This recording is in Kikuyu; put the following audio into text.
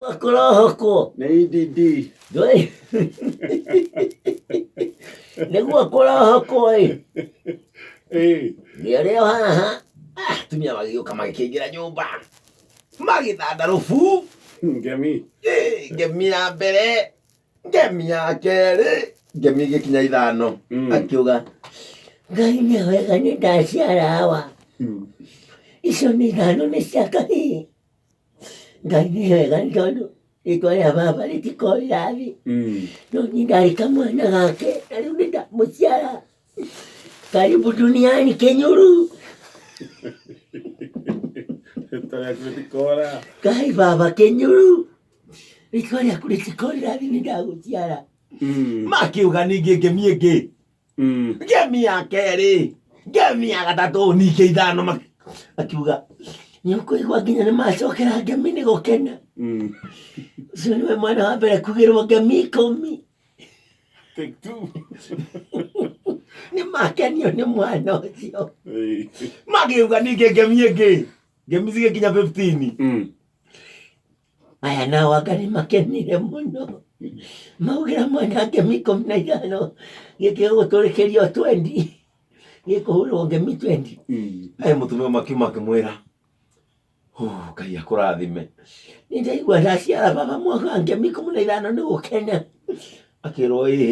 Makorohoko. Nĩ EDD. Ndũĩ? Nĩguo kũrohoko ĩ. Ĩĩ. Nĩarĩo haha. Ah, Atumia magĩũka magĩkĩingĩra nyũmba. Magĩthandarũbu. Ngemi. Ĩ, Ngemi ya mbere. Ngemi ya kerĩ. Ngemi igĩkinya ithano. Mm. Akiuga. Ngai nĩ wega nĩ ndaciara hawa. Mm. Icio nĩ ithano nĩ cia kahii. ngai nĩ hega nĩ tondũ rĩtwa rĩa baba rĩtikoĩ rĩrathi Mm. no niĩ ndarĩ kamwana gake na rĩu nĩ ndamũciara karibu duniani kenyuru Rĩtwa rĩaku rĩtikora. kai baba kenyuru rĩtwa rĩaku rĩtikoĩ rĩrathi nĩ ndagũciara Mm. makiuga ningĩ ngĩmie ngĩ Mm. ngemi ya kerĩ ngemi ya gatatũ ningĩ ithano mak- akiuga nĩũkũigua nginya nĩ macokera ngemi nĩ gũkena Mm. ũcio nĩwe mwana wa mbere kugĩrwo ngemi ikũmi Take two. nĩ makenio nĩ mwana ũcio Hey. magĩuga ningĩ ngemi ĩngĩ ngemi cigĩkinya 15 Mm. Aya nao anga nĩ makenire mũno maugĩra mwena ngemi ikũmi na ithano gĩkĩga gũtũrĩkĩria o twendi gĩkũhũrwo ngemi twendi Aya mũtumia makiuma akĩmwĩra "Hũ, Ngai akũrathime nĩ ndaigua ndaciara baba mwaka ngemi ikũmi na ithano nĩ gũkena akĩrwo ĩĩ